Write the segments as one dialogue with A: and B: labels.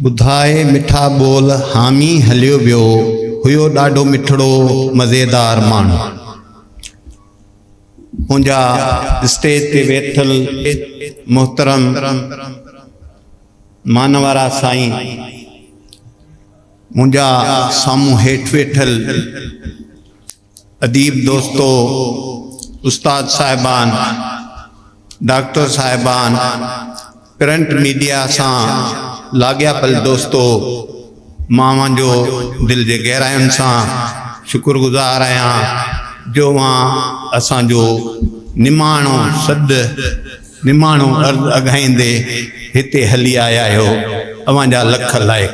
A: ٻڌاء مٺا ٻول حامي هليو ويو هيو ڏاڍو مٺڙو مزيدار ماڻهو منهنجا اسٽيج تي ويٺل محترم مان وارا سائين منهنجا سامهون هيٺ ويٺل اديب دوستو، استاد صاحبان، ڊاڪٽر صاحبان، پرنٽ ميڊيا سان لاڳياپيل دوستو، مان اوهان جو دل جي گهراين سان شڪر گذار آهيان جو اوهان اسان جو نماڻو سڏ، نماڻو عرض اگهائيندي هتي هلي آيا آهيو، اوهان جا لک لائق.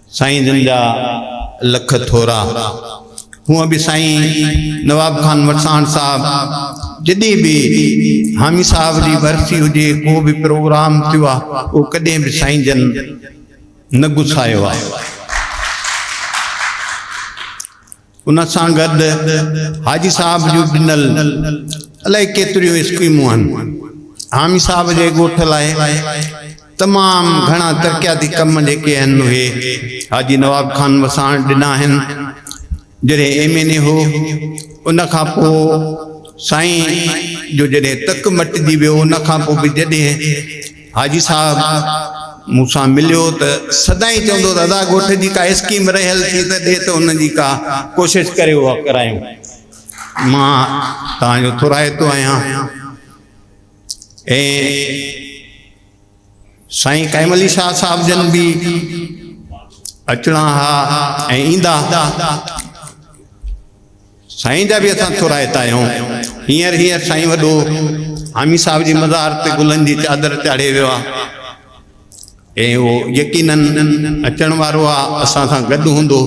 A: سائين جن جا لک ٿورا. هونء به سائين نواب خان وٽساڻ صاحب جڏهن به حامي صاحب جي ورسي هجي ڪو به پروگرام ٿيو آ او ڪڏهن به سائين جن نه گسايو آ. ان سان گڏ حاجي صاحب جون ڏنل الائي ڪيتريون اسڪيمون آهن. حامي صاحب جي ڳوٺ لاء تمام گهڻا ترقياتي ڪم جيڪي آهن اهي حاجي نواب خان وساڻ ڏنا آهن. جڏهن ايم اين اي هو ان کان پوء سائين جو جڏهن تڪ مٽجي ويو ان کان پوء به جڏهن حاجي صاحب مون سان مليو ته سدائين چوندو ته ادا ڳوٺ جي ڪا اسڪيم رهيل ٿي ته ڏي ته ان جي ڪا ڪوشش ڪري اها ڪرايون. مان توهان جو ٿورائتو آهيان ۽ سائين قائم علي شاهه صاحب جن به اچڻا ها ۽ ايندا. سائين جا به اسان ٿورائتا آهيون. هينئر هينئر سائين وڏو حامي صاحب جي مزار تي گلن جي چادر چاڙهي ويو آهي ۽ اهو يقيناً اچڻ وارو آهي اسان سان گڏ هوندو.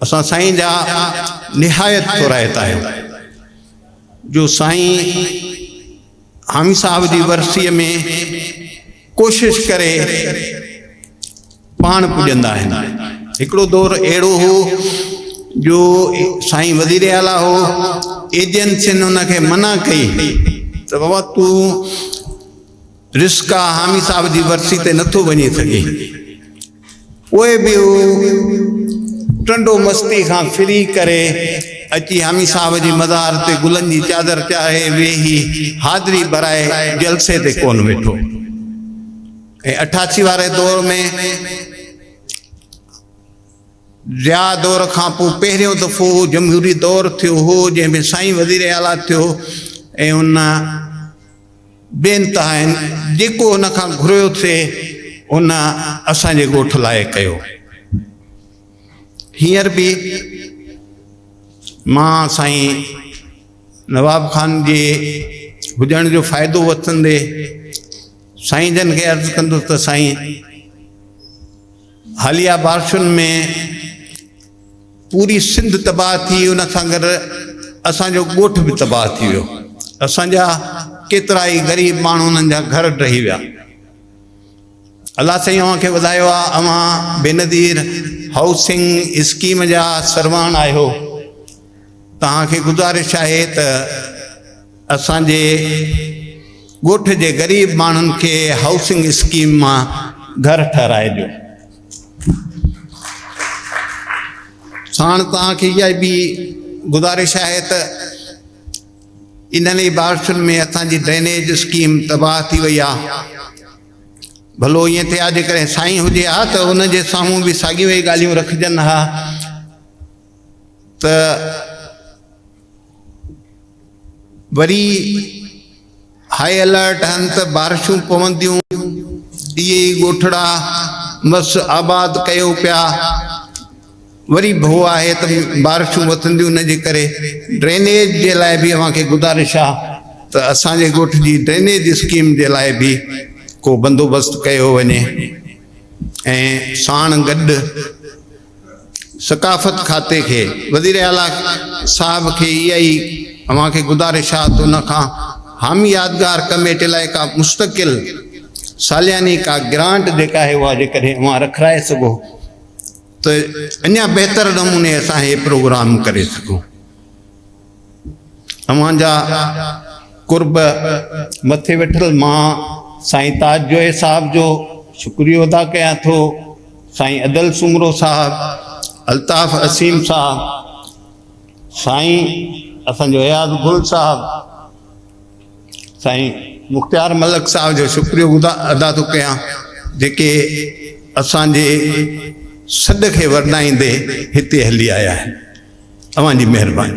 A: اسان سائين جا نهايت ٿورائتا آهيون جو سائين حامي صاحب جي ورسيء ۾ ڪوشش ڪري پاڻ پڄندا آهن هڪڙو دور اهڙو هو جو سائين وزير اعليٰ هو ايجنسين ان کي منع ڪئي ته بابا تون رسڪا حامي صاحب جي ورسي تي نٿو وڃي سگهين پوء به هو ٽنڊو مستي کان ڦري ڪري اچي حامي صاحب جي مزار تي گلن جي چادر چاڙهي ويهي حاضري ڀرائي جلسي تي ڪونه ويٺو ۽ اٺاسي واري دور ۾ ضياء دور کان پوء پهريون دفعو جمهوري دور ٿيو هو جنهن ۾ سائين وزير اعليٰ ٿيو ۽ ان بي انتها آهن، جيڪو هن کان گهريو سي هن اسان جي ڳوٺ لاء ڪيو. هينئر به مان سائين نواب خان جي هجڻ جو فائدو وٺندي سائين جن کي عرض ڪندس ته سائين! حاليه بارشن ۾ پوري سنڌ تباهه ٿي ان سان گڏ اسان جو ڳوٺ به تباهه ٿي ويو اسان جا ڪيترا ئي غريب ماڻهو انهن جا گهر ڊهي ويا الله سائين اوهان کي وڌايو آهي اوهان بينظير هائوسنگ اسڪيم جا سرواڻ آهيو توهان کي گذارش آهي ته اسان جي ڳوٺ جي غريب ماڻهن کي هائوسنگ اسڪيم مان گهر ٺهرائجو. ساڻ توهان کي اها به گذارش آهي ته انهن ئي بارشن ۾ اسان جي ڊرينيج اسڪيم تباهه ٿي وئي آهي. ڀلو ائين ٿئي ها جيڪڏهن سائين هجي ها ته ان جي سامهون به ساڳيون ئي ڳالهيون رکجن ها. ته وري هاء الرٽ آهن ته بارشون پونديون اهي ئي ڳوٺڙا مس آباد ڪيو پيا وري ڀو آهي ته بارشون وسنديون ان جي ڪري ڊرينيج جي لاء به اوهان کي گذارش آهي ته اسان جي ڳوٺ جي ڊرينيج اسڪيم جي لاء به ڪو بندوبست ڪيو وڃي ۽ ساڻ گڏ ثقافت کاتي کي وزير اعليٰ صاحب کي اها ئي اوهان کي گذارش آ ته ان کان حامي يادگار ڪميٽي لاء ڪا مستقل سالياني ڪا گرانٽ جيڪا آهي اها جيڪڏهن اوهان رکرائي سگهو ته اڃا بهتر نموني اسان هي پروگرام ڪري سگهون. اوهان جا قرب مٿي ويٺل مان سائين تاج جويي صاحب جو شڪريو ادا ڪيان ٿو سائين ادل سومرو صاحب الطاف اسيم صاحب سائين اسان جو اياز گل صاحب سائين مختيار ملڪ صاحب جو شڪريو ادا ٿو ڪيان جيڪي اسان جي سڏ کي ورنائيندي هتي هلي آيا آهن اوهان جي مهرباني.